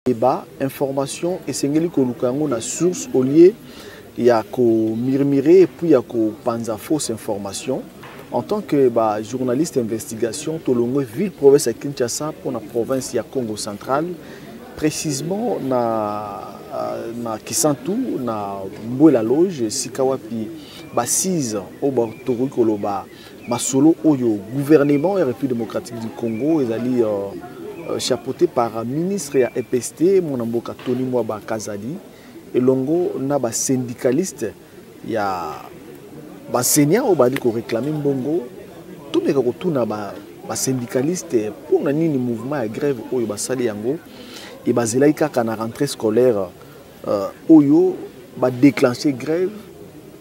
débat information esengeli koluka yango na source au lieu ya komirmire epuis ya kopanza fausse information en tant que ba journaliste investigation tolongwe ville province ya kinshasa mpo na province ya congo central précisement na, euh, na kisantu na mbwela loge esika wapi basise oyo tokoki koloba masolo oyo gouvernement ya république démocratique du congo ezali euh, euh, chapeauté par ministre ya epst mwana mboka tony mwaba kazali elongo na basyndicaliste ya baenseignant oyo bazali koreklame mbongo tomeka kotuna basyndicaliste ba mpo na nini mouvement ya grève oyo basali yango ebazelaki kaka na rentrée scolaire euh, oyo ba déclencher grève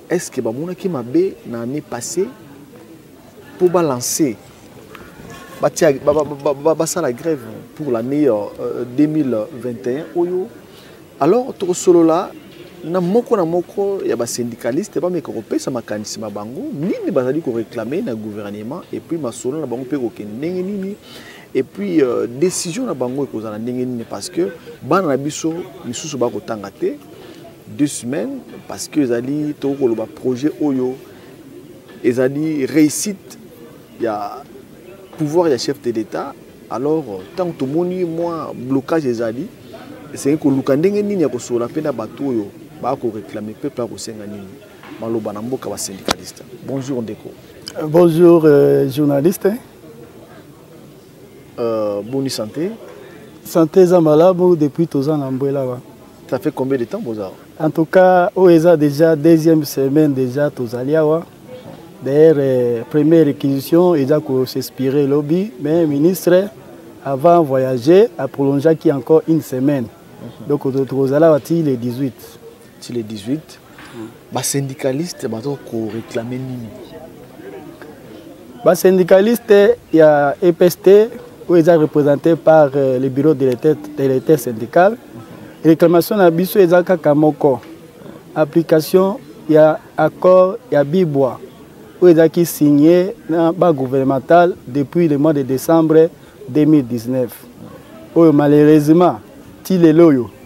est ce que ba monaki mabe na année passée pour ba lancer ba tia ba ba ba, ba, ba sala grève pour l'année euh, 2021 oyo alors to solo là na moko na moko ya ba syndicaliste ba meka ko pesa makanisi ma bango nini bazali ko réclamer na gouvernement et puis masolo na bango pe ko kende nini et puis euh, décision na bango ekozala ndenge nini parce que bana na biso misusu bakotanga te deux semaines parce que ezali tokoki koloba projet oyo ezali réussite ya pouvoir ya chef de l'état alors ntango tomoni mwa blocage ezali esengi koluka ndenge nini ya kosolola mpe na bato oyo bakoreklame mpe mpe akosenga nini maloba na mboka basyndicaliste bonjour ndeko bonjour euh, journaliste Euh, boni santé santé eza malamu depuis toza na mbwela wa ça fait combien de temps boza en tout cas oyo eza déjà deuxième semaine déjà tozali awa d'ailleurs euh, première réquisition eza kosinspire lobi mais ministre avant voyager aprolongeaki encore une semaine mhm. donc tokozala wa ti le 18 ti le 18 basyndicaliste baza koreklame nini basyndicaliste ya epst oyo eza représente par euh, le bureau de l'état syndical réclamation na biso eza kaka moko application ya accord ya bibwa oyo ezalaki signe na bagouvernemental depuis le mois de décembre 2019 oyo malheureusement ti lelo oyo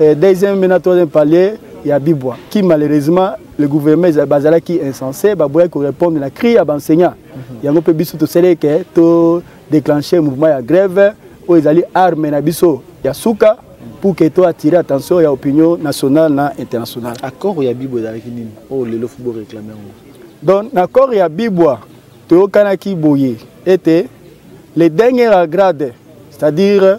eh, deuxième mena troisième palier ya bibwa qui malheureusement le gouvernement bazalaki insensé baboyaki korépondre na cri ya baenseignant mhm. yango mpe biso tosalaki ke to déclenche mouvement ya grève oyo ezali arme na biso ya suka pour que to attire attention ya opinion nationale na internationale accord ya bibwa ezalaki nini oyo oh, lelo fobo réclame yango donc na accord ya bibwa toyokanaki boye ete le dernier grade c'est-à-dire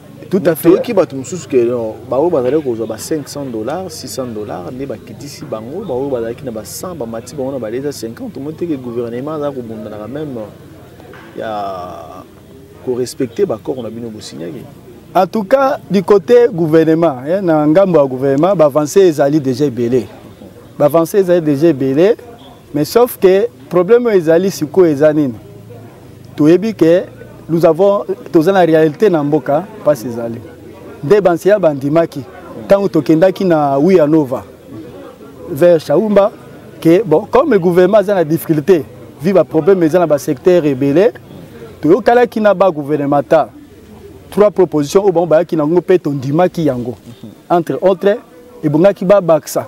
tout à fait toyoki bato mosusu ke baoyo bazalaki kozwa ba 500 dollars 600 dollars nde bakitisi bango baoyo bazalaki na ba 100 bamati bango na ba 250 omoi teke gouvernement azala kobundanaka meme ya korespecte baaccord na bino bosinyaki en tout cas du côté gouvernement eh, na ngambo ya gouvernement baavance ezali déjà ebele baavance ezali déjà ebele mais sauf que problème oyo ezali sikoyo eza nini toyebi ke nous avons toza na réalité na mboka mpasi ezali nde banseya bandimaki ntango tokendaki na wiya nova vers shaumba ke bon comme le gouvernement aza na difficulté vi baproblème eza na basecteur ebele toyokalaki na bagouvernemental trois propositions oyo bango bayaki na yango mpe tondimaki yango entre autres ebongaki babakisa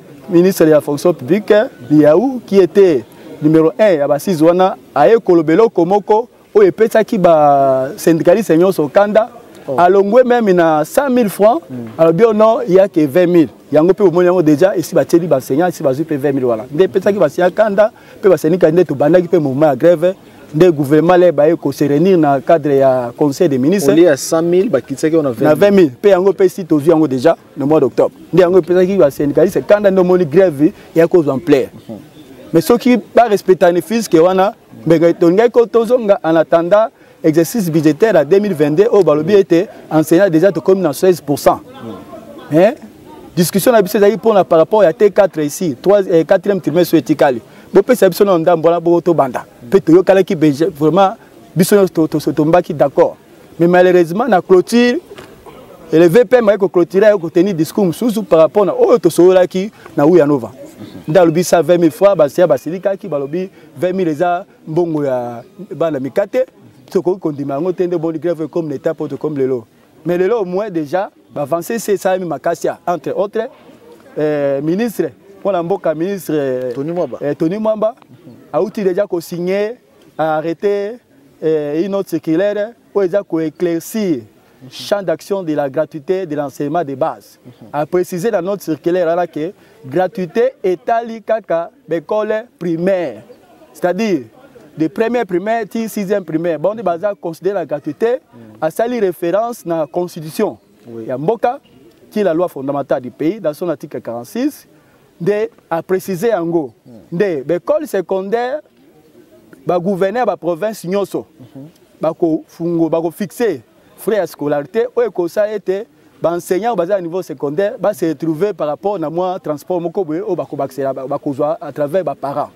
ministre ya fonction publique liau qui était numéro 1 ya basise wana aye koloba eloko moko oyo epesaki basyndicaliste nyonso kanda oh. alongwe meme na 100 000 francs mm. alobi oh non ya ke 20 000 yango mpe bomoni yango déjà esi batieli baenseignant esi bazwi mpe 20 000 wana nde epesaki baenseignant kanda mpe basyndicali nde tobandaki mpe mouvement ya grève nde gouvernement le baye koserenir na cadre ya conseil des ministres 20 000 mpe yango mpe si tozwi yango déjà na mois d'octobre nde yango epesaki basyndicaliste kanda nde omoni grève ya kozwa ampleur mhm. mais soki barespectani fiske wana mbenge tolingaki ko tozonga en attendant exercice budgétaire ya 2022 oyo balobi ete enseignant déjà tokomi na 16 pourcent mhm. eh? discussion na biso ezalaki mpona par rapport ya t4 ici 4e eh, trimestre oyo etikali bopesa biso na ndambo wana boko tobanda mpe toyokalaki vraiment biso nyonso tombaki d'accord mais malheureusement na clôture et le vpm ayeko clôturer ayeko tenir discours mosusu par rapport na oyo tosololaki na uyanova nde alobi sa 20 000 francs basiya basilikaki balobi 20 000 eza mbongo ya bana mikate tokoki kondima yango te nde boni grève comme na état mpo tokomi lelo mais lelo au moins déjà bavance se esalami makasi ya entre autres euh, ministre mwana mboka ministre euh, tony mwamba eh, auti déjà kosigne arrêté eh, une autre circulaire oyo eza koéclaircir champ d'action de la gratuité de l'enseignement de base a préciser na notre circulaire wana ke gratuité etali kaka baekole primaire c'est-à-dire de première primaire ti sixième primaire bango nde baza considéré na gratuité asali référence na constitution ya mboka qui est la loi fondamentale du pays dans son article 46 nde a préciser yango nde ba école secondaire ba gouverneur ba province nyoso bako fungo bako fixer frais ya scolarité oyo ekosala ete baenseignant baza na niveau secondaire base retrouve par rapport na mwa transport moko boye oyo bakobakisela bakozwa à travers baparent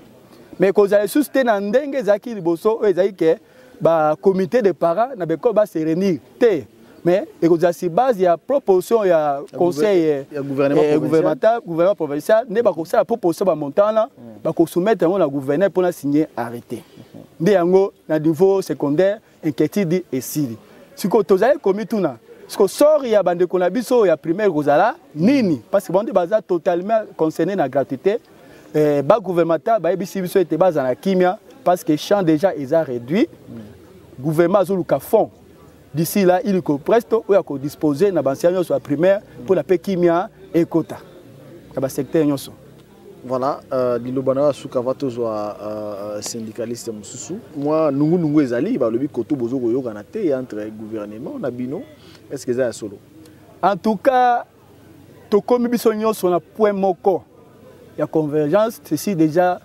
mais ekozala lisusu te na ndenge ezalaki liboso oyo ezalaki ke ba comité de parents na beko ba se réunir te mais ekozala sur base ya proposition ya conseil eh, eh, gouvernemental gouvernement provincial nde bakosala proposition bamontant wana mm. bakosoumettre yango na gouverneur mpo na signe arrêté mm-hmm. nde yango na niveau secondaire inquiétude esili sikoyo tozali komituna siko sori ya bandeko na biso ya primaire ekozala nini parce que bango nde baza totalement concerné na gratuité eh, ba gouvernemental bayebisi biso ete bazala na kimia parce que champ déjà eza réduit mm. gouvernement azoluka fond d'ici là iliko presto oyo akodispose na bansia nyonso ya primaire mpo na mpe kimia ekota na basecteur nyonso voilà euh, liloba na yo ya suka va tozwa euh, syndicaliste mosusu mwa nungunungu ezali balobi koto bozo koyokana te entre gouvernement na bino est ce que eza ya solo en tout cas tokomi biso nyonso na point moko ya convergence ceci déjà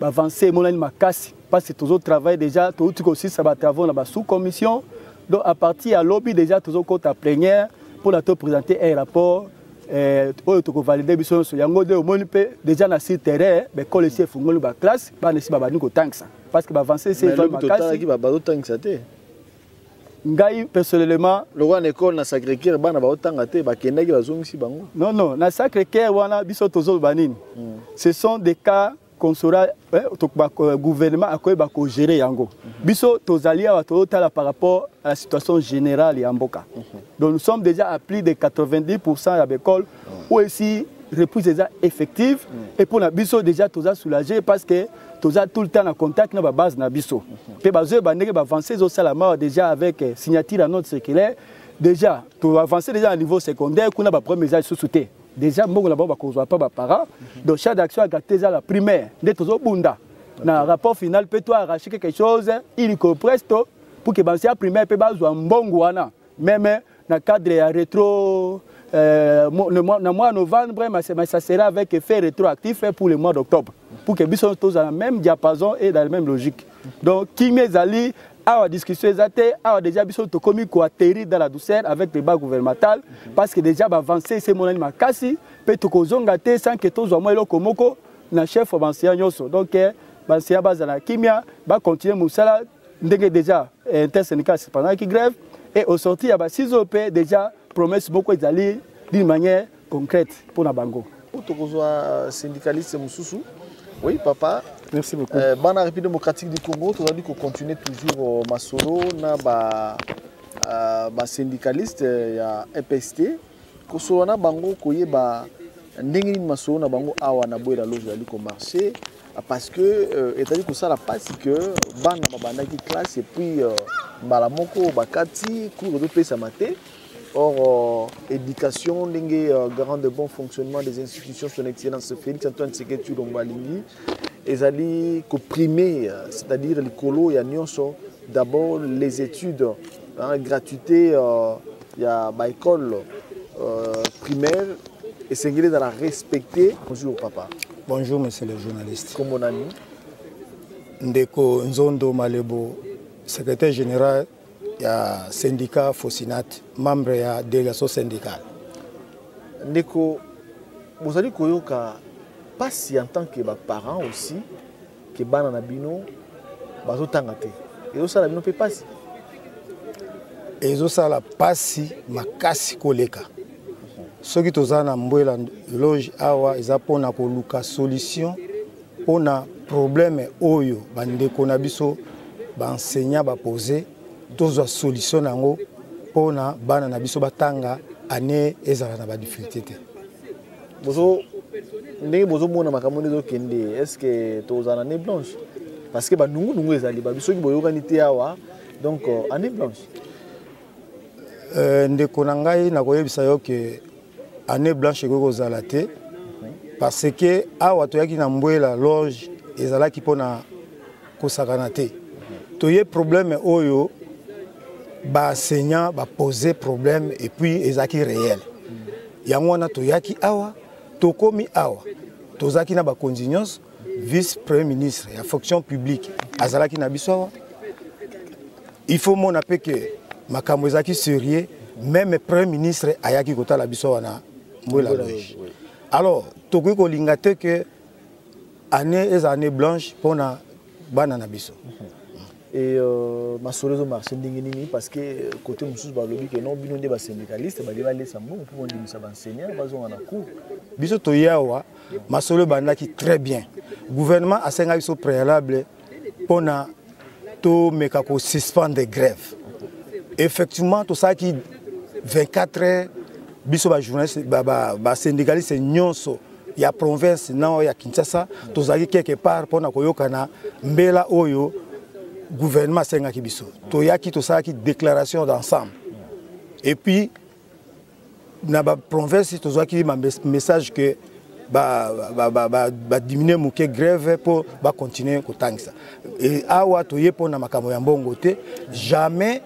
bavance emonani makasi parce que tozo travaille déjà touti kosisa batravaux na basous commission donc à partir ya lobi déjà tozokota plénière mpo na topresente un rapport eh, oyo tokovalide biso nyonso yango nde omoni mpe déjà na sur terrain baekole esi efungoli baklasse bana esi babandi kotangisa parce que bavance esi ezwa makasi bazotangisa te ngai personnellement lokola na ekole na sacré cœur bana baotanga te bakendaki bazongisi bango non non na sacré cœur wana biso tozoloba nini mm. ce sont des cas konsora eh, euh, gouvernement akoyeba kogere yango mhm. biso tozali awa tozotala par rapport à la situation générale ya mboka mhm. donc nous sommes déjà à plus de 90 pourcent ya baekole oyo esi reprise eza effective mhm. et mpo na biso déjà toza soulage parce que toza tout le temps na contact na ba base na biso pe bazo ba ndenge ba avancer zo sala ma déjà avec euh, signature à notre circulaire déjà to avancer déjà à niveau secondaire kuna ba premier âge sous te déjà mbongo na bango bakozwa pa baparent donc char d'action agate eza la primaire nde tozobunda na rapport final mpe to arrache quelque chose illico presto pour ke banse ya primaire mpe bazwa mbongo wana meme na cadre ya retro euh, na mois novembre mais ça sera avec effet rétroactif pour le mois d'octobre pour que biso tozala na même diapason et dans la même logique donc kimia ezali awa discussion eza te awa déjà biso tokomi koatterrir dans la douceur avec le bas gouvernemental parce que déjà baavance esi emonani makasi mpe tokozonga te sans que tozwa mwa eloko moko na chef ya banseya nyonso donc eh, banseya bazala kimia bacontinue mosala ndenge déjà eh, intersyndical sepandaki grève et au sorti ya basise oyo mpe déjà promesse moko ezali d'une manière concrète mpo na bango tokozwa euh, syndicaliste mosusu oui papa merci beaucoup euh, bana république démocratique du congo tozali kocontinue toujours euh, masolo na ba, euh, ba syndicaliste ya epst kosolola na bango koyeba ndenge nini masolo na bango awa na boyela lozo ezali komarche parce que euh, ezali kosala mpasi ke bana babandaki classe epuis euh, mbala moko bakati cours ezopesama te Or, euh, éducation, dengue, euh, garant de bon fonctionnement des institutions, son excellence Félix Antoine Tseketu Lombalingi, ils allaient comprimer, euh, c'est-à-dire les colos et à d'abord les études hein, gratuité euh, ya ba école euh, primaire esengeli ezala respecté bonjour papa bonjour monsieur le journaliste kombo nani ndeko nzondo malebo secrétaire général ya syndicat fosinat membre ya délégation syndicale ndeko bozali koyoka mpasi en tant que baparent aussi ke bana na bino bazotanga te ezosala bino mpe mpasi ezosala mpasi makasi koleka soki toza na mbwela loge awa eza mpona koluka solution mpona problème oyo bandeko na biso baenseignant bapose tozwa solution na yango mpona bana na biso batanga année ezala na badifficulté te bozo ndenge bozomona makambo nde ezokende estce tozala na ne blanche parce que banungunungu ezali babi soki boyokani te awa donc année euh, blanche euh, ndeko na ngai nakoyebisa yo ke année blanche ekoki kozala te parce que awa toyaki na mbwela loge ezalaki mpo na kosakana te toye problème oyo baenseignant bapose problème epuis ezalaki réel yango wana toyaki awa tokomi awa tozalaki na bakonzi nyonso vice premier ministre ya fonction publique azalaki na biso awa il faut mona mpe ke makambo ezalaki sérieux meme premier ministre ayaki kotala biso awa na mbwela loge alors tokoki kolinga te ke année eza année blanche mpona bana na biso et euh, masolo ezomarche ndenge nini parce que euh, côté mosusu balobi ke non bino nde basyndicaliste balie balesa mbongo mpo bondimisa baenseignant bazonga na cour biso toye awa masolo ebandaki très bien gouvernement asengaki biso préalable mpo na tomeka kosuspendre grève effectivement tosalaki 24 heures biso bajournaliste basyndicaliste ba, ba nyonso ya province na oyo ya kinshasa tozalaki quelque part mpo na koyokana mbela oyo gouvernement asengaki biso toyaki tosalaki déclaration d'ensemble et puis na ba province tozwaki ba message que ba ba ba ba, ba diminuer moke grève mpo ba continuer kotangisa e awa toye mpo na makambo ya mbongo te jamais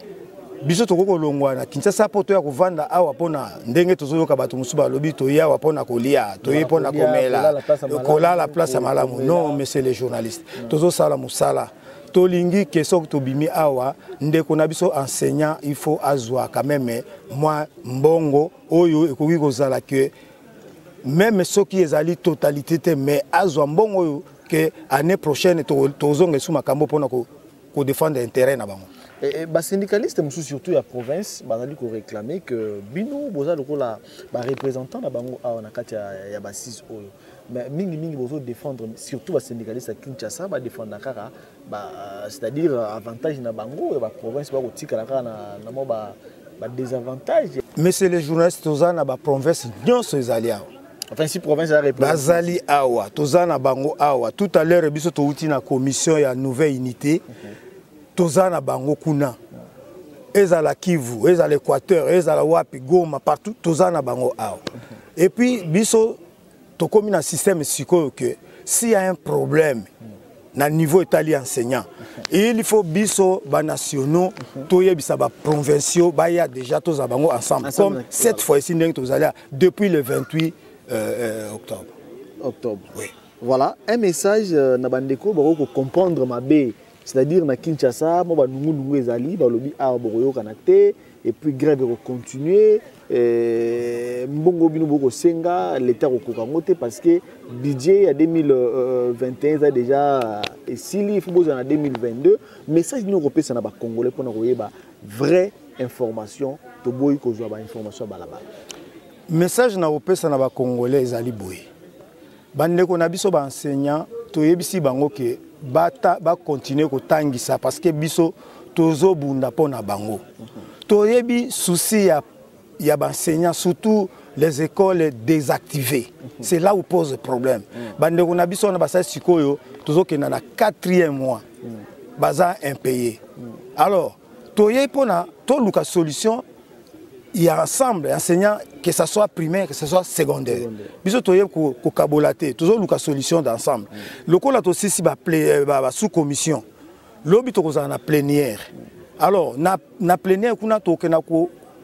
biso tokoki kolongwa na kinshasa mpo toya kovanda awa mpona ndenge tozoyoka bato mosusu balobi toye awa mpona kolia toye mpona komela kolala place ya malamu non monsieur le journaliste tozosala mosala tolingi ke soki tobimi awa ndeko na biso enseignant il faut azwa quand même mwa mbongo oyo ekoki kozala ke meme soki ezali totalité te mais azwa mbongo oyo ke année prochaine tozonga esu makambo mpona kodefendre intérêt na bango eh, eh, basyndicaliste mosusu surtout ya province bazali koréclame ke bino boza lokola barepresentant na bango awa na kati ya basis oyo mais mingi mingi bozo défendre surtout ba syndicalistes ya Kinshasa ba défendre kaka ba euh, c'est-à-dire euh, avantage na bango ya ba province ba kotikala kaka na na mo ba ba désavantage monsieur le journaliste toza na ba province nyonso ezali awa enfin si province ya république bazali awa toza na bango awa tout à l'heure biso touti na commission ya nouvelle unité okay. toza na bango kuna ezala Kivu ezala Équateur ezala wapi Goma partout toza na bango awa okay. et puis biso tokomi na système sikoyo que s'il y a un problème na niveau etali enseignant il faut biso banationaux toyebisa baprovinciaux baya déjà tozala bango ensemble comme cette fois ici ndenge tozali depuis le 28 euh, euh, octobre octobre oui. voilà un message euh, na bandeko bakoki kocomprendre mabe c'est-à-dire na kinshasa mwa banungunungu ezali balobi awa bokoyokana te et puis grève eko continuer eh, mbongo bino bokosenga leta akokoka yango te parce que budget ya 2021 eza déjà esili ifo bozala na 2022 message nini okopesa na bacongolais mpona koyeba vraie information toboyi kozwa bainformation ya balabala message na kopesa na bacongolais ezali boye Bandeko na biso ba enseignants toyebisi bango ke bata ba continuer kotangisa parce que biso tozobunda mpo na bango toyebi souci ya, ya baenseignant surtout les écoles désactivées c'est là où pose problème bandeko na biso wana basali sikoyo tozokenda na quatrième mois baza impayé alors toyei mpona toluka solution ya ensemble enseignant que ça soit primaire que ça soit secondaire biso toye kokabola te tozoluka solution d'ensemble lokola tosisi euh, basous commission lobi tokozala na plénière alors na, na plénière kuna tokokenda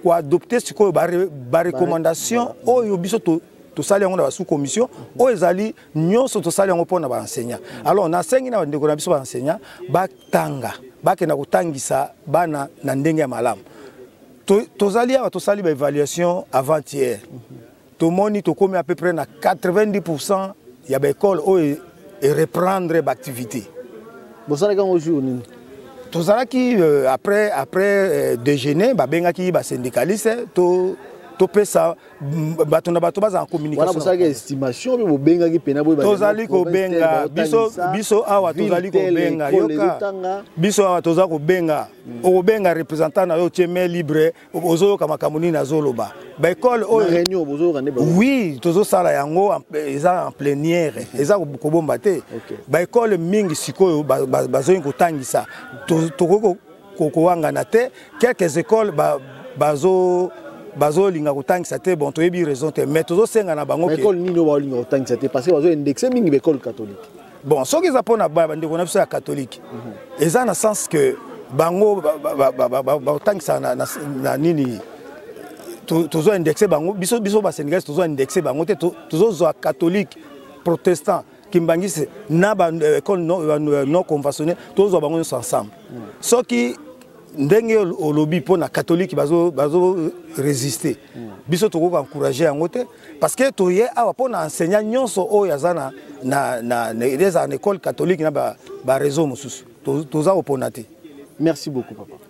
koadopte sikoyo barecommandation oyo biso to tosali yango na basous commission oyo ezali nyonso tosali yango mpo na baenseignant alors nasengi na bandeko na biso baenseignant tanga bakenda kotangisa bana na ndenge ya malamu tozali awa tosali baévaluation avant hier tomoni tokomi à peu près na 90 pourcent ya baekole oyo ereprendre baactivité bosalaki yango jour nini tozalaki euh, après après euh, déjeuner babengaki basyndicaliste topesa to bato na bato bazala communicationbosalaki estimation mpe bobengaki mpena tozali kobenga biso biso awa tozali kobenga yoka biso awa toza kobenga hmm. okobenga représentant na yo otie mai libre ozoyoka makambo nini azoloba baekole oyo oui tozosala yango eza en pleniere hmm. eza kobomba te baekole mingi sikoyo bazongi kotangisa tokoki kokowangana te quelques écoles ba, bazo bazolinga kotangisa te bon toyebi raison te mais tozosenga na bango ekole nini oyo baolinga kotangisa te parce que bazoindexe mingi baekole catholique bon soki eza mpo na bandeko na biso ya catholique mhm. eza na sens que bango baotangisa na nini tozo indexe bango biso biso basendikasi tozo indexe bango te tozozwa catholique protestant Kimbanguiste na ba euh, école non, euh, euh, non conventionnée tozwa bango nyonso ensemble soki ndenge olobi mpo na katolike bazo, bazo résister biso tokoki encourage yango te parce que toye awa mpo na enseignant nyonso oyo aza na, na, na, na, na école catholique na bareseau ba mosusu toza to opona te merci beaucoup papa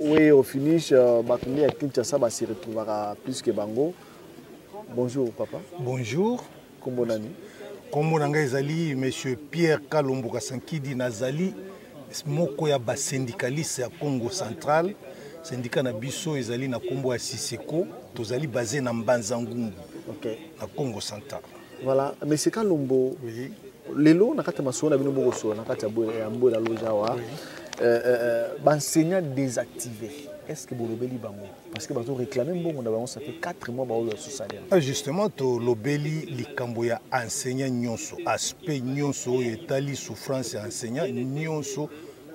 oui au finish euh, bato nde ya kinshasa base retrouvaka plus que bango bonjour papa bonjour nkombo nani nkombo na ngai ezali monsieur pierre kalombo kasankidi nazali moko ya basyndicaliste ya congo central sindika na biso ezali na nkombo ya siseko tozali base na mbanza ngungu okay. na congo central Voilà, mais c'est Kalombo. Oui. Lelo, na kati ya masolo na bino boko solo na kati ya mbola loja wa. Oui. Euh, euh, euh b'enseignant désactivé. Est-ce que bolobeli bango parce que bazo réclamer mbongo na bango ça fait 4 mois baoyo sous salaire. Ah justement to lobeli likambo ya enseignant nyonso, aspect nyonso oyo etali souffrance ya enseignant nyonso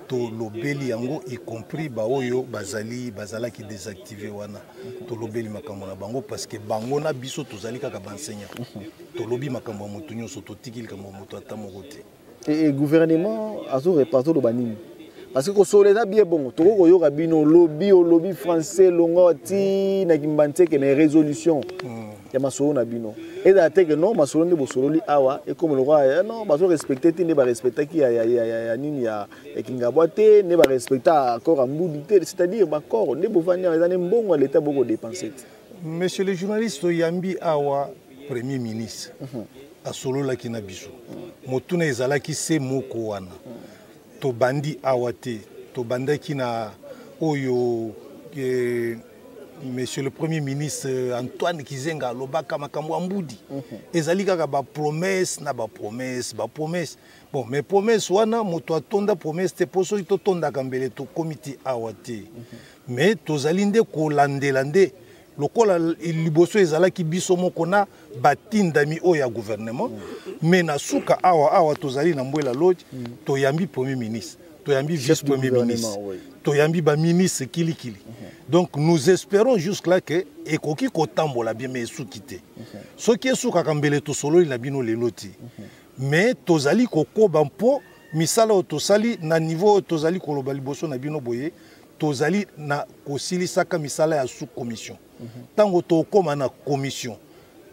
tolobeli yango y compris baoyo bazali bazalaki désactivé wana tolobeli makambo na bango parce que bango na biso tozali kaka baenseignant tolobi makambo ya moto nyonso totiki likambo ya moto ata moko te e gouvernement azoloba nini parce que kosola eza bie bongo tokoki koyoka bino lobi olobi français longo ti na kimbanseke mais résolution mm. ya masolo na bino ezala te ke non masolo nde bosololi awa ekomi lokola eh, non bazo respecte te nde barespectaki ya, ya, ya, ya, ya nini ya, ya kingabwa te nde barespecta accord ya mbudu te c'est-à-dire baccord nde bovandi awa eza nde mbongo ya leta bokodepense te monsieur le journaliste oyambi awa premier ministre mm -hmm. asololaki na biso mm -hmm. motuna ezalaki se moko wana mm -hmm. tobandi awa te tobandaki na oyo eh, monsieur le premier ministre euh, antoine kizenga alobaka makambo ya mbudi mhm. ezali kaka bapromese na bapromese bapromese bon mais promese wana moto atonda promese te mpo soki totondaka mbele tokomi ti awa te mhm. mais tozali nde kolandela nde lokola liboso ezalaki biso moko na batindami oyo ya gouvernement mais na suka awa awa tozali na mbwela lodge toyambi premier ministre toyambi vice premier ministre toyambi baministre kilikili mhm. donc nous espérons jusque là ke ekoki kotambola bien mais esuki te mhm. soki esukaka mbele tosololi na bino lelo ti mhm. mais tozali kokoba mpo misala oyo tosali na niveau oyo tozali koloba liboso na bino boye tozali na kosilisaka misala ya sous commission ntango tokóma na commission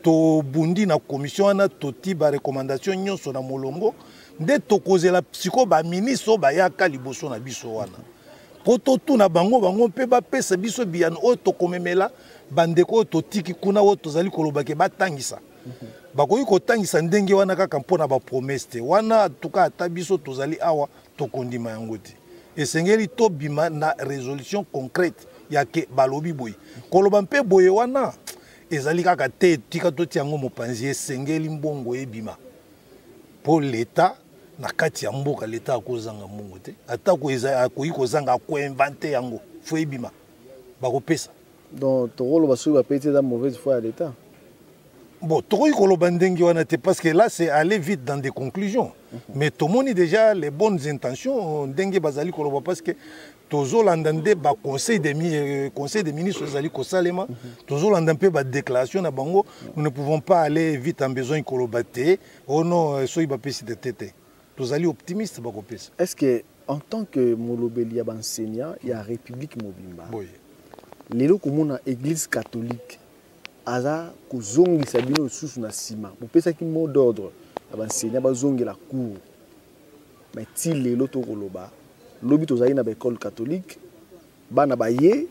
tobundi na commission wana totii barecommandation nyonso na molongo nde tokozela sikoyo baministre oyo bayaka liboso na biso wana mpo totuna bango bango mpe bapesa biso biyano oyo tokomemela bandeko oyo totiki kuna oyo tozali koloba ke batangisa bakoki kotangisa ndenge wana kaka mpo na bapromese te wana tuka ata biso tozali awa tokondima yango te esengeli tobima na résolution concrète ya ke balobi boye koloba mpe boye wana ezali kaka te tika totia yango mopanzi esengeli mbongo ebima mpo leta na kati ya mboka leta akozanga mbongo te atako akoki kozanga akoinvente yango fo ebima bakopesa donc tokoloba soki bapesi eza mauvaise foi ya l'état bon tokoki koloba ndenge wana te parce que là c'est aller vite dans des conclusions mhm. mais tomoni déjà les bonnes intentions ndenge bazali koloba parce que tozolanda nde baconseil de, euh, conseil des ministres ezali kosalema mhm. tozolanda mpe badéclaration na bango nous ne pouvons pas aller vite en besoin koloba te ono oh euh, soki bapesi te te te tozali optimiste bakopesa est ce que en tant que molobeli ya banseignant ya république mobimba boye lelo komona église catholique aza kozongisa bino lisusu na nsima bopesaki mot d'ordre ya banseignant bazongela cour mais ti lelo tokoloba lobi tozali na baekole catholique bana baye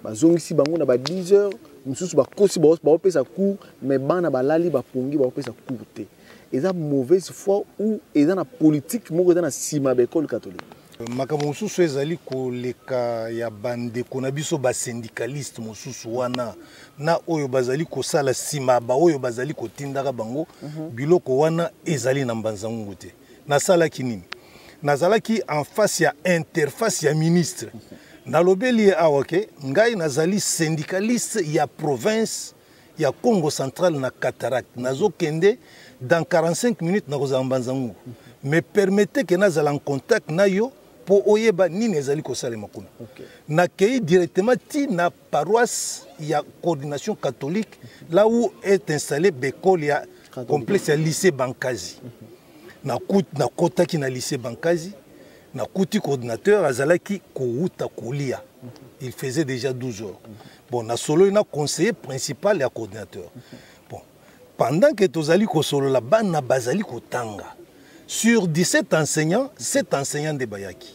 bazongisi bango na ba 10 heures mosusu bakosi baopesa cour mais bana balali bapongi baopesa cour te eza mauvaise foi ou eza na politique moko eza na nsima ya baekole catholique makambo mosusu ezali koleka ya bandeko na biso basyndicaliste mosusu wana na oyo bazali kosala nsima baoyo bazali kotindaka bango mhm. biloko wana ezali na mbanzangungu te nasalaki nini nazalaki en face ya interface ya ministre nalobeli ye awa ke ngai nazali syndicaliste ya province ya congo central na cataracte nazokende dans 45 minutes nakozala mbanzangungu me permete ke nazala en contact na yo mpo oyeba nini ezali kosalema kuna okay. nakei directement ti na paroisse ya coordination catholique là où est installé bekole ya complexe ya lycée bankazi nakotaki na lycée bankazi nakuti coordinateur azalaki kowuta kolia il faisait déjà 12 heures bon nasololi na conseiller principal ya coordinateur bon pendant que tozali kosolola bana bazali kotanga sur 17 enseignants 7 enseignants nde bayaki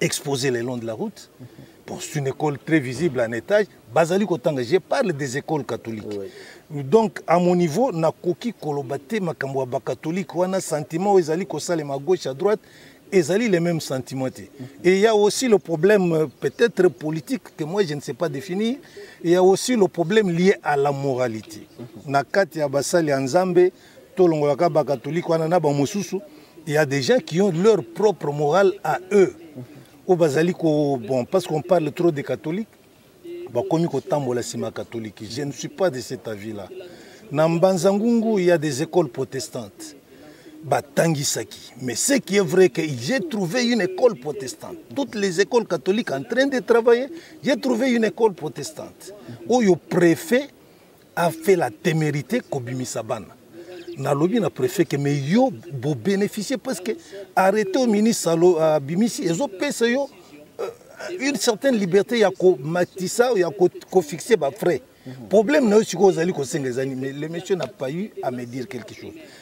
exposé le long de la route. Bon, c'est une école très visible en étage. Bazali Kotanga, je parle des écoles catholiques. Oui. Donc, à mon niveau, na koki kolobate makambo ya catholique wana sentiment ezali kosala ma gauche à droite ezali les mêmes sentiments te. Et il y a aussi le problème euh, peut-être politique que moi je ne sais pas définir. Il y a aussi le problème lié à la moralité. Na kati ya basali ya Nzambe tolongola ka ba catholique wana na ba mosusu il y a des gens qui ont leur propre morale à eux oyo bazali ko bon parce qu'on parle trop des catholiques bakomi kotambola nsima ya catholique je ne suis pas de cet avis là na mbanza ngungu il y a des écoles protestantes batangisaki mais ce qui est vrai que j'ai trouvé une école protestante toutes les écoles catholiques en train de travailler j'ai trouvé une école protestante oyo préfet a fait la temerite kobimisa bana nalobi na préfet ke mais yo bobénéficie parce que arrêté au ministre abimisi euh, ezopesa yo euh, une certaine liberté ya komatisa ya kofixe bafrais problème na yo sikoyo ozali kosenga ezali mais le monsieur n'a pas eu à me dire quelque chose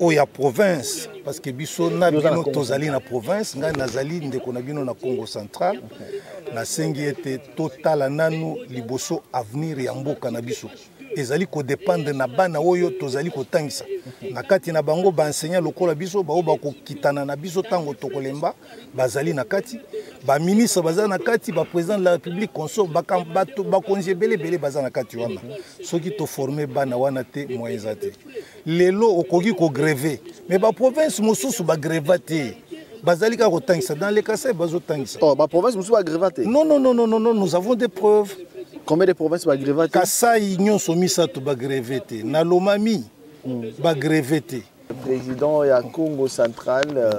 oyo ya province parce que biso na bino tozali na province ngai nazali ndeko na bino na congo central nasengi ete totala nanu liboso avenir ya mboka na biso ezali kodependre na bana oyo tozali kotangisa na kati na bango baenseignant lokola biso baoyo bakokitana na biso ntango tokolemba bazali na kati baministre baza na kati baprésident de la république consort bakonzi ebele ebele baza na kati wana soki toforme bana wana te moyen eza te lelo okoki kogreve mais baprovince mosusu bagreva te bazali kaka kotangisa dans le kasai bazotangisa oh, baprovince mosusu bagreva te non non non non non nous avons des preuves combien de province bagreva te kasai nyonso misato bagreve te na lomami hmm. bagreve te président ya congo central euh...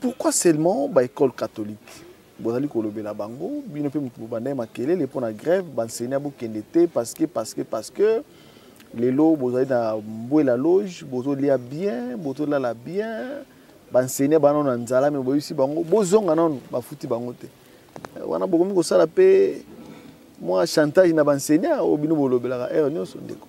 pourquoi seulement ba école catholique bozali kolobela bango bino mpe moto bobanda ye makelele mpo na grève bansenia bokende te parce que parce que parce que lelo bozali na mbwela loge bozolia bien bozolala bien bansenia banano na nzala me boyebisi bango bozonga nano bafuti bango te eh, wana bokomi kosala mpe mwa chantage na bansenia oyo bino bolobelaka heure nyonso ndeko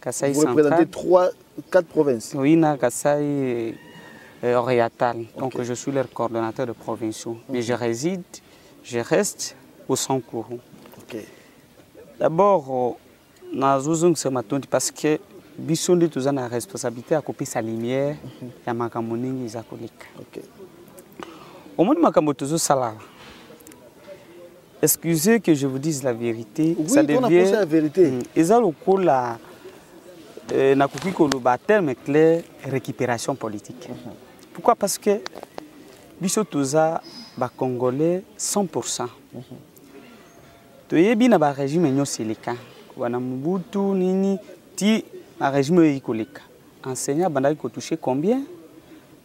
Kasaï Vous représentez trois, quatre provinces Oui, na Kasaï euh, oriental. Okay. Donc je suis leur coordonnateur de provinciaux. Okay. Mais je réside, je reste au sans courant. Ok. D'abord, euh, na zozong se matondi parce que biso nde toza na responsabilité ya kopesa lumière mhm. ya makambo ndenge eza koleka omoni makambo tozosalala Excusez que je vous dise la vérité. Oui, ça devient. La vérité. Mm, eza lokola euh, nakoki koloba terme clair récupération politique. Mhm. Pourquoi Parce que biso toza ba Congolais 100%. Mhm. Toyebi na ba régime nyonso eleka wana Mobutu nini ti na régime oyo ekoleka enseignant abandaki kotouche combien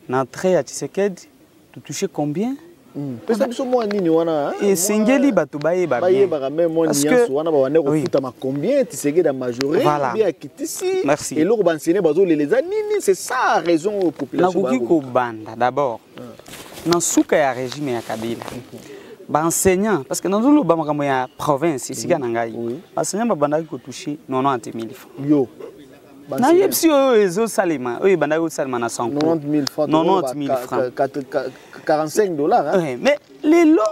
na entrée ya Tshisekedi to toucher combien hmm. pesa biso mwa nini wana hein? esengeli bato bayeba bayebaka me mwa niance wana babanda kofutama combien tisegede ya majore bie akitisi eloko bansene bazolela eza nini c'est ça raison oyo population nakoki kobanda d'abord hmm. na nsuka ya régime ya kabila baenseignant parce que nazoloba makambo ya province esika na ngai baenseignant babandaki kotouche 90 000 francs nayebisi yo oyo ezosalema oyo ebandaki kosalema na sanko 90000 francs 45 dollars eh, mais lelo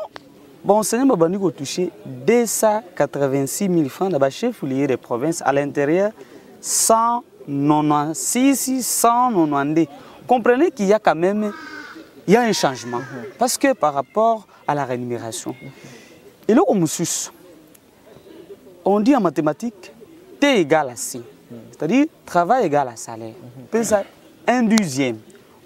baenseignant babandi kotouche 286 000 francs na bachef liye de province à l'intérieur 196 192 comprenez qu'il y a quand même il y a un changement mhm. parce que par rapport à la rémunération mhm. eloko mosusu on dit en mathématiques T égale à C. C'est-à-dire, travail égale à salaire. Mpe ça, un deuxième.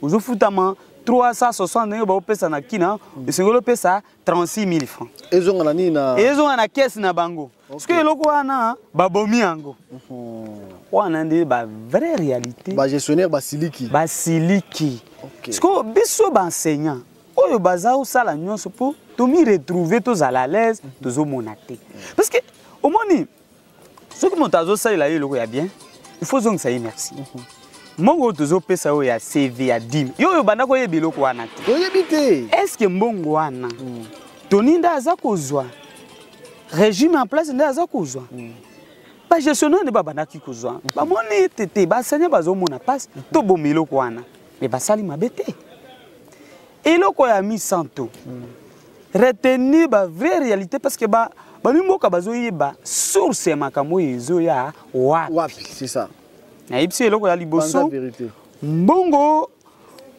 ozofutama 360 ndenge baopesa na kina esengeli opesa 36 000 francs ezonga na nini na ezonga na kese na bango soki eloko wana babomi yango mhm. wana nde ba vraie réalité bagestionnaire basiliki basiliki sikoyo biso baenseignant oyo baza osala nyonso mpo tomi retrouve tozala alaise tozomona te parce que omoni soki moto azosalela yo eloko ya bien il faut ozongisa ye merci mbongo oyo tozopesa oyo ya cv ya dime yo oyo banda koyeba eloko wana te oyebi te estce mbongo wana mm. toni nde aza kozwa régime en place nde aza kozwa mm. bagestionnaire nde babandaki kozwa mm. bamoni ete te basanya bazomona mpasi toboma eloko wana me basali mabe te eloko ya misanto mm. retenir ba vraie réalité parce que ba bamimboka bazoyeba source ya makambo oyo ezoya wapi nayebisi eloko ya liboso mbongo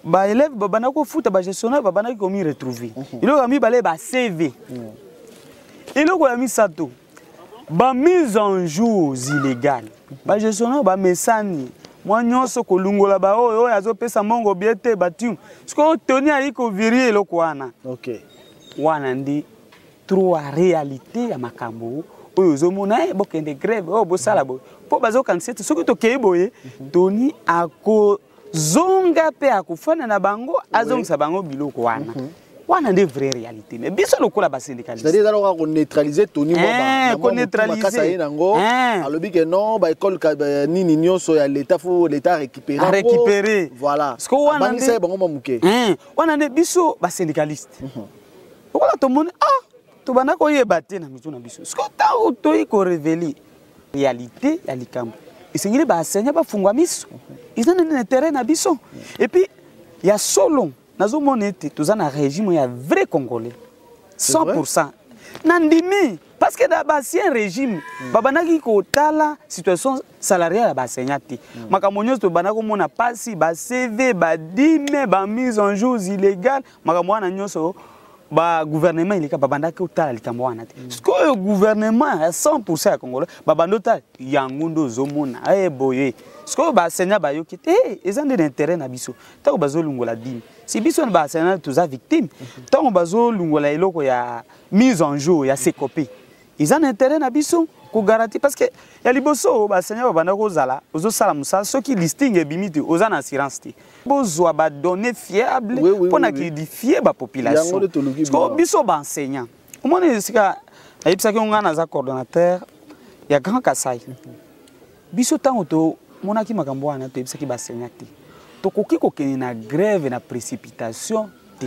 baelève babandaki kofuta bagestionnaire babandaki komiretrouve mhm. eloko ya mibale bacv mhm. eloko ya misato ba mise en jours illégal ba gestionnaire ba mesani mwa nyonso kolungola baoyo oyo azopesa mbongo bie te batium sikoyo toni ayei kovirie eloko wana okay. wana nde trois réalité ya makambo oyo ozomona e eh, bokende grève oyo oh, bosala boye mpo bazokanisa ete soki tokei boye mhm. toni ako zonga mpe akofanda na bango azongisa bango biloko wana mm -hmm. wana nde vraie réalité mais biso lokola basyndicalisteezalaka koneutralise toni mwabakasa ye nango alobi ke non baekole nini nyonso ya leta fo leta récupérerécupéré voilà abangisa ye bango mwa moke wana nde biso basyndicaliste mhm. lokola tomoni ah tobanda koyeba te na mitu na biso siko ntango toyi korevele réalité ya likambo esengeli baasenya bafungwa miso eza nini na intérêt na biso epuis ya solo nazomona ete toza na régime ya vrai congolais 100 nandimi parce que na baancien régime mm. babandaki kotala situation salariale ya baenseignant te mm. makambo nyonso tobanda komona mpasi bacv badime bamise en jours illégale makambo wana nyonso bagouvernement eleka babandaki otala likambo wana te mm. sikoyo gouvernement ya 100 pourcent ya congolais babandi otala yango nde ozomona e eh, boye sikoyo basenya bayoki te eh, eza nde na intérêt na biso ntango bazolungola dini si biso na basenya toza victime mm-hmm. ntango bazolungola eloko ya mise en jour ya secope eza na intérêt na biso kogaranti parce que ya liboso basenya babanda kozala ozosala mosala soki listing ebimi te oza na assurance te bozwa badonnée fiable mpo oui, oui, na kidifie oui. bapopulation biso baenseignant omoni esika nayebisaki yo ngai naza coordonnateur ya grand kasai biso ntango tomonaki makambo wana toyebisaki basenya te tokoki kokende na grève na précipitation te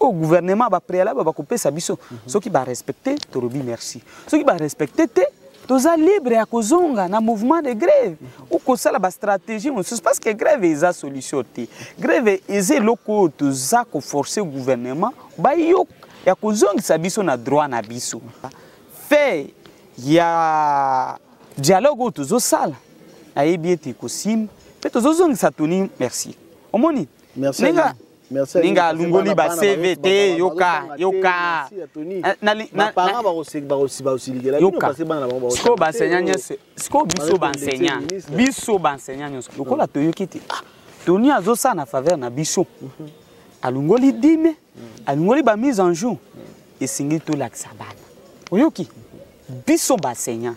au oh, gouvernement ba préalable ba kopesa biso mm -hmm. soki ba respecter tolobi merci soki ba respecter te toza libre ya kozonga na mouvement de grève ou kosala bastratégie mosusu parce que grève eza solution te grève eza eloko oyo toza koforce gouvernement bayoka ya kozongisa biso na droit na biso fait ya dialogue oyo tozosala nayebi ete ekosimba mpe tozozongisa toni merci omoni ndenge ninga alungoli ba cv te yoka yoka sikoyo baenseignant nyonso sikoyo biso baenseignant biso baenseignant nyonso lokola toyoki te ah, toni azosala na faveur na biso mhm. alungoli dime alungoli ba mise en jour esengeli tolakisa bana oyoki biso baenseignant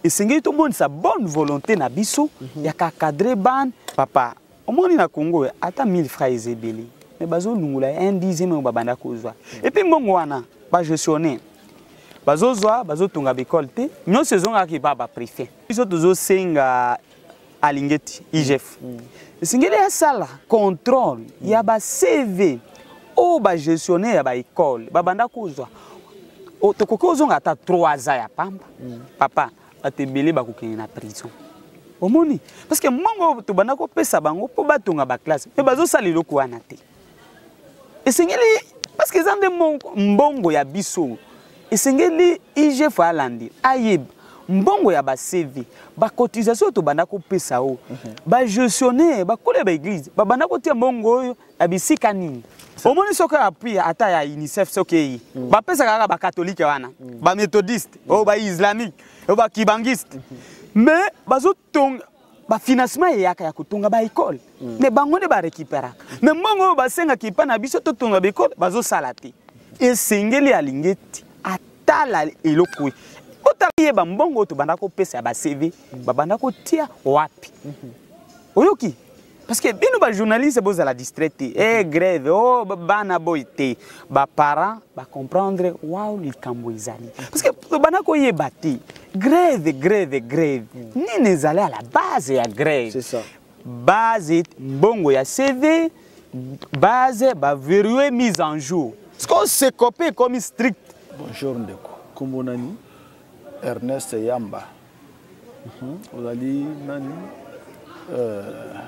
esengeli tomonisa bonne volonté na biso mhm. ya kakadre bane papa omoni na congo ata 1000 francs eza ebele me bazolungola un dixième oyo babanda kozwa epuis mbongo wana bagestionne bazozwa bazotonga baekole te nyonso ezongaka epa baprefet biso tozosenga alingeti igf mm. esengeli asala contrôle ya bacv oyo bagestionnaire ya baekole babanda kozwa tokoki ozonga ata 3 ans ya pamba mm. papa bato ebele bakokende na prison omoni parce que mbongo tobanda kopesa bango mpo batonga baklasse me bazosala eloko wana te esengeli parce que eza nde mbongo ya biso esengeli igf alandi ayeba mbongo ya bacv bacotisation oyo tobanda kopesa oyo mhm. bagestionnaire bakola ya baeglise babanda kotia mbongo oyo na bisika nini omoni soki appui ata ya unicef soki eyi mm. bapesaka kaka bakatolike wana mm. bamethodiste mm. oyo oh, baislamique oyo oh, bakibangiste mm-hmm. mais bazotonga bafinancement eyaka ya kotonga baekole mm. me bango nde barekiperaka me mbongo oyo basengaka epai na biso totonga baekole bazosala te esengeli alingi ete atala eloko ye otala yeba mbongo oyo tobanda kopesa ya bacv babanda kotia wapi mm-hmm. oyoki parce que bino bajournaliste bozala distrait te e grève o bana boye te baparent bacomprendre wao likambo ezali parce que tobanda koyeba te grève grève grève nini ezali à la base ya grève base mbongo ya cv base baverue mise en jour ce qu'on se copie ekomi strict bonjour ndeko nkombo nani ernest yamba Mhm. ozali nani euh,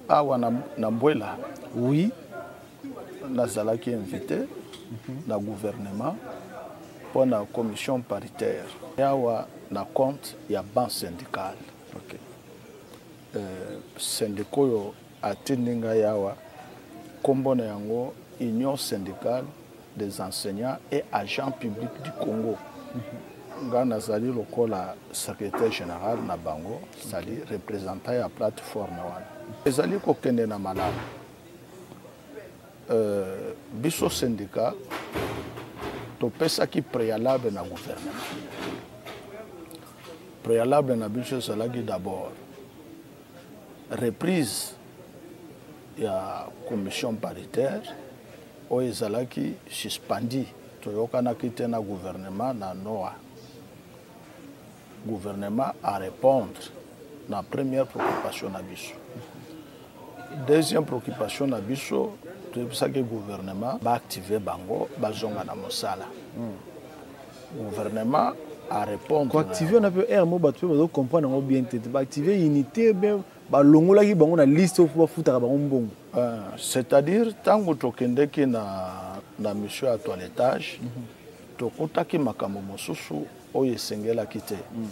awa na, na mbwela oui nazalaki invité mm -hmm. na gouvernement mpo na commission paritaire awa na compte ya banque syndicale okay. euh, sendika oyo atindi ngai awa nkombo na yango union syndicale des enseignants et agent public du congo ngai nazali lokola secrétaire général na bango sali représentant ya plateforme wana ezali kokende na malamu euh, biso syndicat topesaki préalable na gouvernement préalable na biso ezalaki d'abord reprise ya commission paritaire oyo ezalaki suspendi toyokanaki te na gouvernement na noa gouvernement a répondre na première préoccupation na biso deuxième préoccupation na biso toyebisaki gouvernement baactive bango bazonga na mosala mm. gouvernement a répondre ko activer na pe air mo bato pe bazo comprendre yango bien te ba activer unité bien balongolaki bango na liste oyo mpo bafutaka bango mbongo euh, c'est-à-dire ntango tokendeki na, na mission ya toiletage mm -hmm. tokutaki makambo mosusu oyo esengelaki te mm.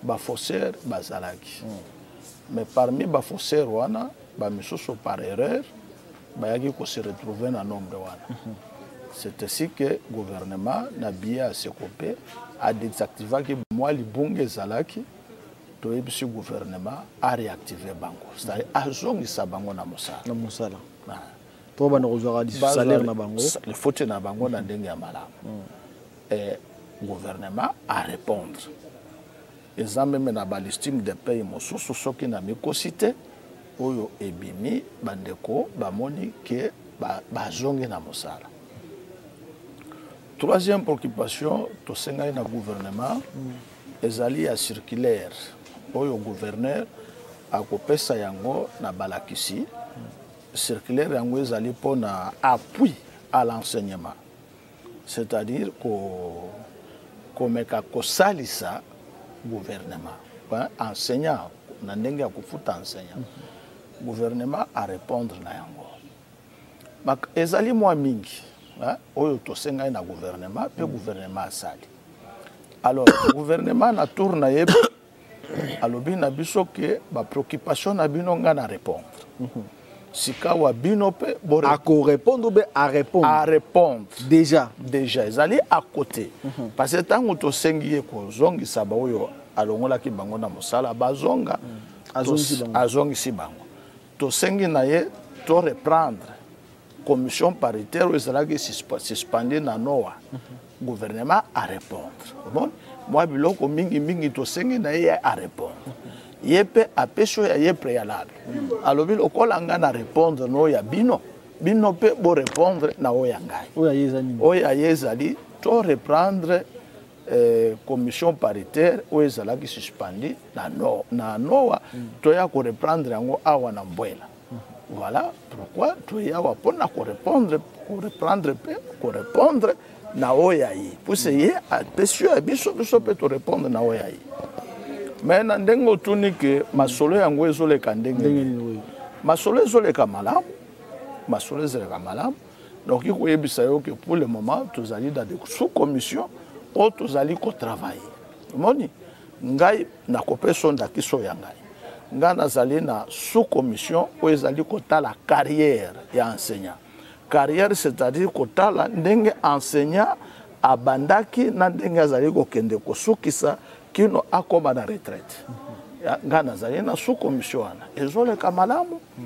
ba faussaires bazalaki mm. mais parmi ba faussaires wana ba misusu par erreur bayaki ko se retrouver na nombre wana mm -hmm. c'est ainsi que gouvernement na biye ya sekope adesactivaki mwa libunga ezalaki toyebisi gouvernement areactive bango c'est-à-dire azongisa bango na mosala na mosala mpo banda kozwaka salaire na bango faute na bango na ndenge ya malamu mm. et gouvernement a répondre eza meme na balistime de paye mosusu soki na mikosi te oyo ebimi bandeko bamoni ke bazongi ba na mosala troisième préoccupation tosengaki na gouvernement ezali ya circulaire oyo gouverneur akopesa yango na balakisi circulaire yango ezali mpo na appui à l'enseignement c'est-à-dire komeka kosalisa gouvernement enseignant na ndenge ya kofuta enseignant mhm. gouvernement arépondre na yango ezali mwa mingi oyo tosengaki na gouvernement mpe mhm. gouvernement asali alors gouvernement na tour na ye alobi na biso ke bapreoccupation na bino ngai na répondre mhm. sikawa bino mpe akorépondre mpe arépondre arépondre déjà déjà ezali à côté mhm. parce que ntango tosengi ye kozongisa baoyo alongolaki bango na mosala bazonga mhm. azongisi bango tosengi na ye to reprendre commission paritaire oyo ezalaki suspendue na noa gouvernement arépondre omoni mwa biloko mingimingi tosengi na ye arépondre ye mpe apesi oyo ya ye préalable alobi lokola ngai na répondre na oyo ya bino bino mpe borépondre na oyo ya ngai oyo ya ye ezali to reprendre eh, commission paritaire oyo ezalaki suspendi na, no, na noa mm. toya koreprendre yango awa na mbwela mm. voilà pourquoi toye awa mpona korepondre koreprendre mpe korepondre na oyo ya ye puse ye apesi oyo ya biso biso mpe torepondre na oyo ya ye me na ndenge otuni ke masolo yango ezoleka ndenge nini masolo ezoleka malamu masolo ezoleka malamu donc ikoyebisa yo ke pour le moment tozali dans de sous commission oyo tozali kotravaille omoni ngai nakopesa yo ndakisa oyo ya ngai ngai nazali na sous commission oyo ezali kotala carrière ya enseignant carrière c'est-à-dire kotala ndenge enseignant abandaki na ndenge azali kokende kosukisa kino akoma na retraite ngai nazali na sous commission wana ezoleka malamu mm.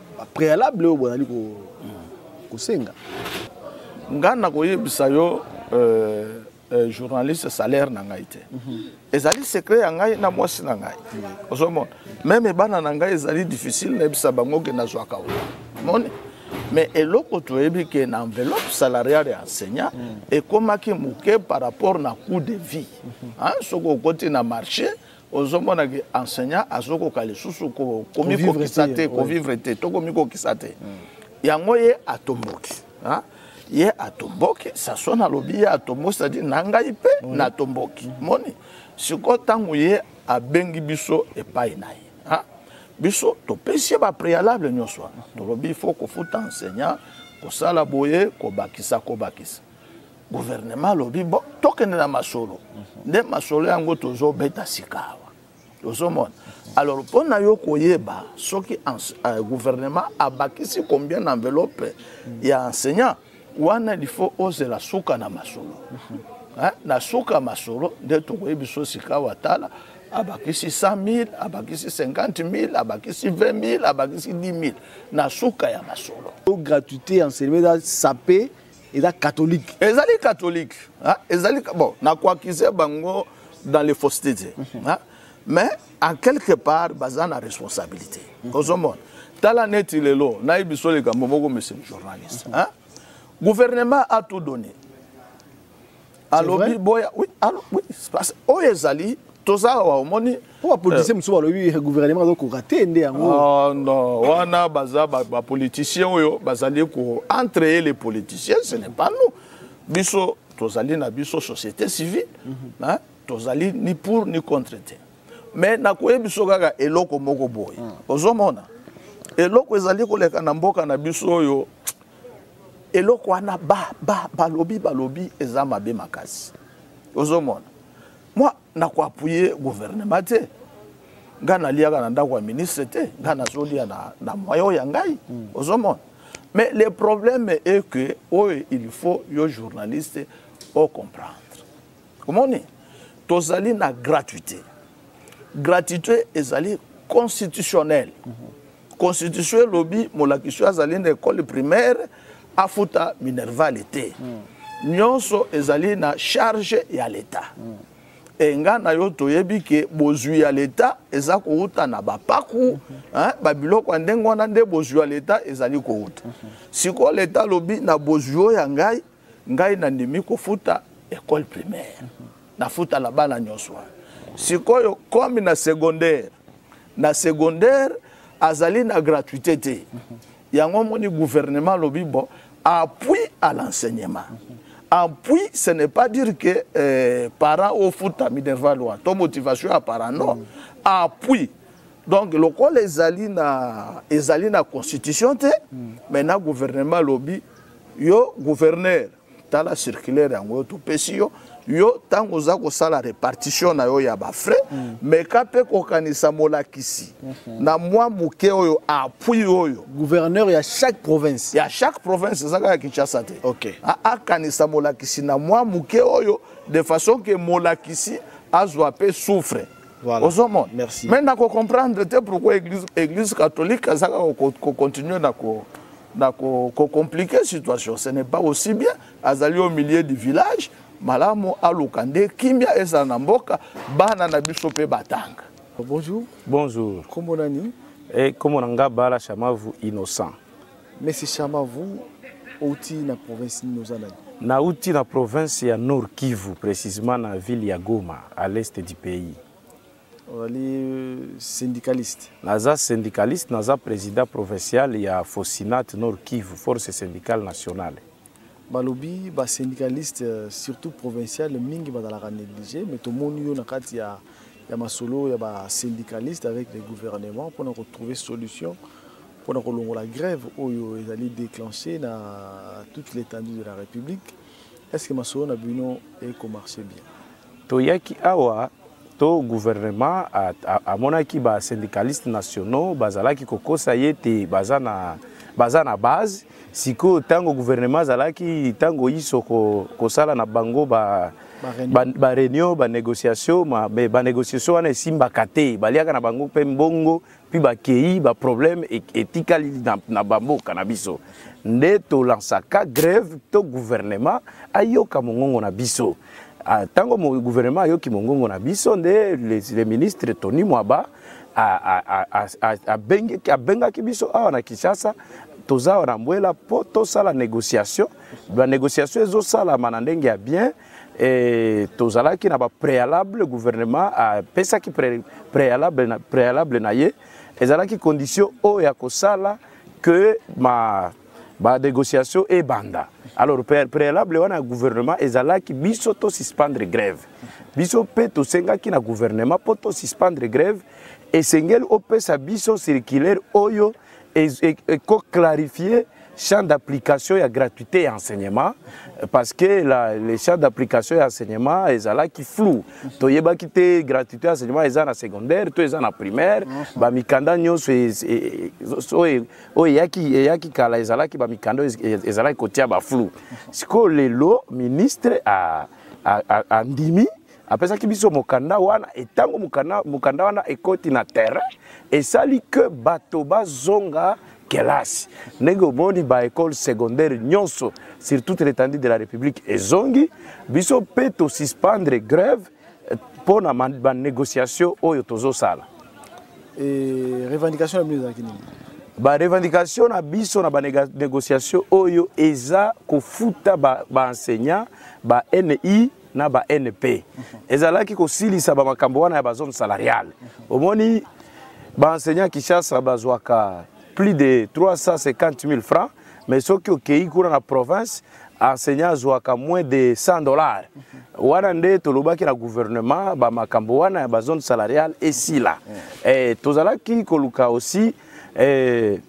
ba préalable oyo bozali ko kosenga ngai nakoyebisa yo euh, euh, journaliste salaire na ngai te mhm. ezali secret ya ngai na mwasi na ngai ozomona meme bana na ngai ezali difficile nayebisa bango ke nazwaka oyo moni mais eloko toyebi ke na enveloppe salariale ya enseignant mhm. ekomaki moke par rapport na coût de vie mhm. soki okoti na marché ozomona ke enseignant azokoka lisusu komikokisa te kovivre te to komikokisa te yango ye atomboki ye atomboki sason alobi ye atomboki cetadi na ngai mpe natomboki moni sikoyo ntango ye abengi biso epai na ye biso topesi ye bapréalable nyonso wana tolobi fo kofuta enseignant kosala boye kobakisa kobakisa gouvernement alobi bo tokende na masolo nde masolo yango tozobeta sikawa ozomona alors mpo na yo koyeba soki euh, gouvernement abakisi combien na enveloppe ya enseignant wana il faut ozela suka na masolo na suka ya masolo nde tokoyebi so sikawa tala abakisi 100 000 abakisi 50 000 abakisi 20 000 abakisi 10 000 na suka ya masolo gratuité ya enseignement eza sape eza catholique ezali catholique hein? ezali bon nakoakize bango dans les fausseté te mhm. hein? mais en quelque part baza na responsabilité mhm. ozomona tala neti lelo nayebi biso likambo moko monsieur le journaliste hein? gouvernement a tout donné alobi boya oui, alo, oui, oyo ezali toza awa omoni mpo bapolitisien euh, mosusu balobi gouvernement azokoka te nde yango ah, non wana baza bapolitisien oyo bazali ko entre ye les politiciens ce n'est pas nous biso tozali na biso société civile mhm. tozali ni pour ni contre te mais nakoyebi biso kaka eloko moko boye ah. ozomona eloko ezali koleka na mboka na biso oyo eloko wana ba ba balobi balobi eza mabe makasi ozomona mwa na koapuye guvernema te ngai naliaka na ndako ya ministre te ngai nazolia na, na moyen oyo ya ngai mm. ozomona mais le problème est que oyo il faut yo journaliste ocomprendre omoni tozali na gratuité gratuité ezali constitutionnelle mm -hmm. constitution elobi molakisi oyo azali na ekole primaire afuta minervale te mm. nyonso ezali na charge ya leta mm. enga na yo toyebi ke bozwi ya leta eza kowuta na bapaku mm -hmm. eh, babiloko ya ndenge wana nde bozwi ya leta ezali kowuta mm -hmm. sikoyo leta alobi na bozwi oyo ya ngai ngai nandimi kofuta ecole primaire nafuta na bana nyonso wana sikoyo comme na secondaire na secondaire azali na gratuité te yango omoni gouvernement alobi bon appui à l'enseignement appui ce n'est pas dire que euh, parent ofuta minerva loi to motivation ya parent non mm. appui donc lokola ezali na ezali na constitution te mm. maintenant gouvernement alobi yo gouverneur tala circulaire yango yo topesi yo yo ntango oza kosala repartition na yo ya bafrais mm. meka mpe kokanisa molakisi mm -hmm. na mwa moke oyo appui oyo gouverneur ya chaque province ya chaque province eza kaka kinshasa te okay. akanisa molakisi na mwa moke oyo de façon ke molakisi azwa mpe souffre Voilà. ozomona mais nakokomprendre te pourquoi église, église catholique azaka kocontinue na ko na ko, ko compliquer situation ce n'est pas aussi bien azali au milieu du village malamu aluka nde kimia ezala na mboka bana na biso mpe batanga bonjour bonjour nkombo nani e nkombo na nga bala chamavu innocent mesi chamavu outi na province nini oza nani nauti na province ya nord kivu précisément na ville ya goma à l'est du pays ozali syndicaliste naza syndicaliste naza président provincial ya fosinat nord kivu force syndicale nationale balobi basyndicaliste euh, surtout provincial mingi bazalaka néglige mais tomoni yo na kati ya, ya masolo ya basyndicaliste avec le gouvernement mpona kotrouver solution mpona kolongola grève oyo ezali déclenché na toute l'étendue de la république est ce que masolo na bino ekomarche bien toyaki awa to gouvernement amonaki ba syndicalistes nationaux bazalaki kokosa ye te baza na baza na base sikoyo ntango gouvernement azalaki ntango iso kosala na bango ba bareunion banégociation me banégociation wana esimbaka te baliaka na bango mpe mbongo puis bakei baproblème e, etikali na, na bamboka na biso nde tolansaka grève to gouvernement ayoka mongongo na biso ntango ah, gouvernement ayoki mongongo na biso nde le ministre tony mwaba abengaki biso awa na kinshasa toza awa na mbwela mpo tosala négociation banégociation ezosalama na ndenge ya bien Et tozalaki na ba préalable gouvernement a pesaki préalable na préalable na ye ezalaki condition oyo ya kosala que ma ba négociation ebanda alors préalable wana ya gouvernement ezalaki biso to suspendre grève biso mpe tosengaki na gouvernement mpo to suspendre grève esengeli opesa biso circulaire oyo eko clarifier champ d'application ya gratuité ya enseignement parce que la, le champ d'application ya enseignement ezalaki flou toyebaki te gratuité ya enseignement eza na secondaire to eza na primaire bamikanda nyonso e, e, e, oyo eyaki, eyaki kala ezalaki bamikanda ezalaki kotia baflou sikoyo lelo ministre andimi a, a, a apesaki biso mokanda wana etango mokanda, mokanda wana ekoti na terrain esali ke bato bazonga kelasi ndenge omoni baekole secondaire nyonso sur toute l'étendue de la république ezongi biso mpe tosuspendre grève eh, mpo na banégociation oyo tozosala eh, revendication na bino ezalaki nini barevendication na biso na banégociation oyo eza kofuta baenseignant ba, ba ni na ba NP ezalaki kosilisa ba makambo wana ya ba zone salariale omoni ba enseignants Kinshasa bazwaka plus de 350 000 francs mais soki okei kuna na province enseignant azwaka moins de 100 dollars wana nde tolobaki na gouvernement bamakambo wana ya bazone salariale esila eh, tozalaki koluka aussi eh,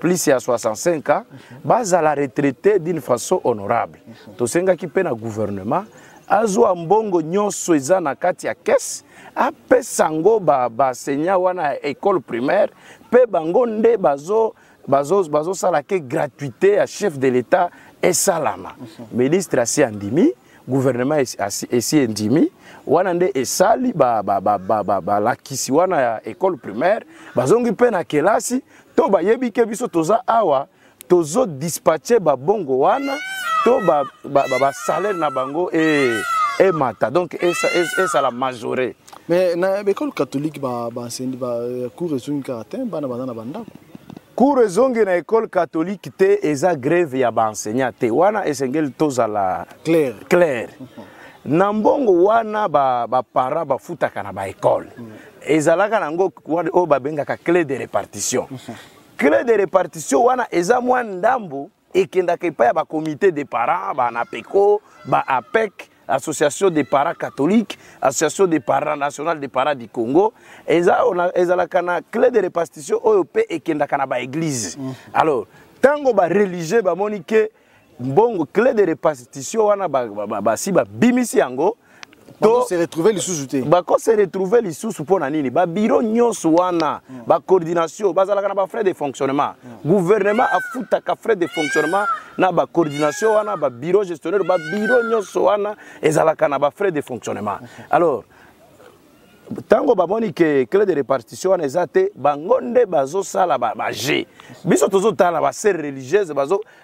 plus ya 65 ans bazala retraite d'une façon honorable tosengaki mpe na gouvernement azwa mbongo nyonso eza na kati ya kese apesa yango basenya ba wana ya école primaire mpe bango nde bazo bazosala bazo, bazo ke gratuité ya chef de l'état esalama ministre asi andimi gouvernement esi endimi wana nde esali balakisi ba, ba, ba, wana ya école primaire bazongi mpe na kelasi to bayebi ke biso toza awa tozo dispatche babongo wana to basalaire na bango e, emata donc esala majore mais na baekole catholique baenseigni bacours ezongi kaka te bana baza na bandako cours ezongi na ekole catholique te eza greve ya baenseignant te wana esengeli tozala claire, claire. na mbongo wana baparent ba bafutaka na baekole mm. ezalaka nango oyo babengaka clé de répartition mhm. clé de répartition wana eza mwa ndambo ekendaka epai ya bacomité de parents banapeco ba apec association des parents catholiques association des parents nationale des parents du congo ezalaka na clé de répartition oyo mpe ekendaka na baeglise mhm. alors ntango bareligieux bamoni ke mbongo clé de repartition wana basi babimisi yango se retrouver lisusu te bako se retrouver lisusu mpo na nini babiro nyonso wana hmm. bacoordination bazalaka na bafrais de fonctionnement hmm. gouvernement afutaka frais de fonctionnement na bacoordination wana babiro gestionnaire babiro nyonso wana ezalaka na bafrais de fonctionnement alors ntango bamoni ke clé de répartition wana eza te bango nde bazosala baje biso tozotala basere religieuse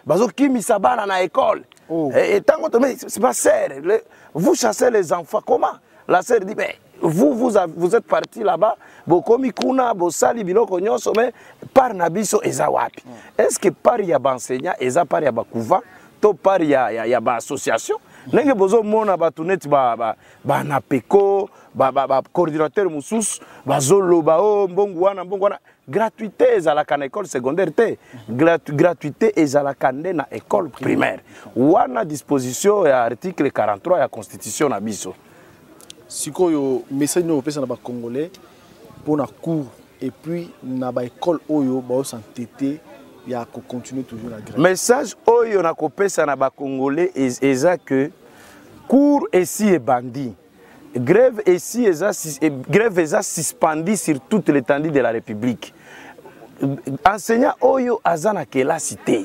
bazokimisa bazo bana na école oh. ntango eh, eh, to basere vous chassez les enfants comment la sere dit mais vous, vous, a, vous êtes parti là-bas bokomi kuna bosali biloko nyonso mais part na biso eza wapi mm. est ce que part ya baenseignant eza part ya bacouvent to part ya, ya, ya baassociation ndenge bozomona bato neti ba, ba, banapeko bacoordinateur ba, ba mosusu bazoloba o oh, mbongo wana mbongo wana gratuité ezalaka na école secondaire te Gratu, gratuité ezalaka nde na école primaire wana disposition ya article 43 ya constitution na biso sikoyo message nini opesa na bacongolais mpo na cours et puis na ba école oyo bao s'entêter ya ko continuer toujours la grève message oyo na kopesa na ba congolais eza que cours esi ebandi grève esi eza eh, grève eza suspendue sur toute l'étendue de la république enseignant oyo aza na kelasi te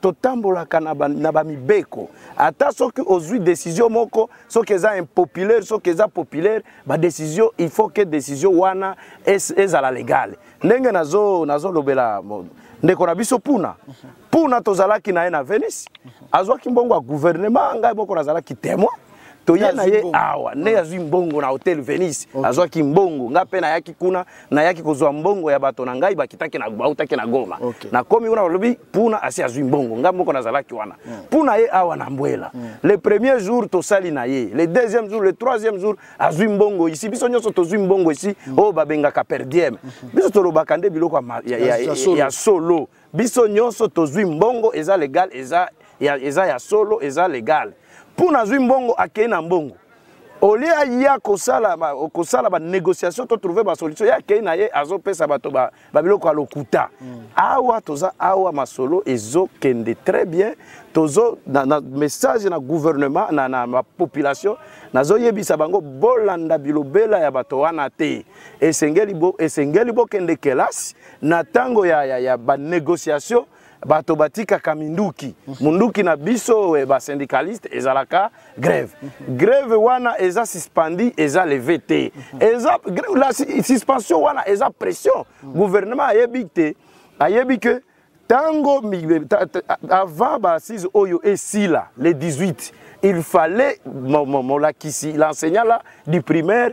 totambolaka na bamibeko ata soki ozwi desizio moko soki eza impopulaire soki eza populaire badesizio il faut ke desizio wana ezala legale ndenge nazolobela nazo ndeko na biso puna puna tozalaki na ye na venise azwaki mbongo ya guvernema ngai moko nazalaki temoin toye na ye awa nde azwi mbongo na hotel venise okay. azwaki mbongo ngai mpe nayaki kuna nayaki kozwa mbongo ya bato na ngai bakitaki na bautaki na goma okay. nakomi kuna balobi puna asi azwi mbongo ngai moko nazalaki wana mm. puna ye awa na mbwela mm. le premier jour tosali na ye le deuxième jour le troisième jour azwi mbongo isi biso nyonso tozwi mbongo isi mm. oyo oh, babengaka perdieme mm -hmm. biso tolobaka nde biloko ya, ya, ya, ya solo, ya solo. biso nyonso tozwi mbongo eza legal eza ya, eza ya solo eza legal mpo nazwi mbongo akei na mbongo olie aya kosala kosala banégociation to trouve basolution ye akei na ye azopesa bato babiloko ya lokuta mm. awa toza awa masolo ezokende très bien tozo na, na message na gouvernement na, na, na population nazoyebisa bango bolanda bilobela ya bato wana te esengeli bokende bo kelasi na tango ya, ya, ya ba négociation bato batikaka minduki munduki na biso eh, ba syndicaliste ezalaka grève grève wana eza suspendi eza leve te eza la suspension wana eza pression gouvernement ayebi te ayebi que tango avant ba assise oyo esila le 18 il fallait molakisi l'enseignant là du primaire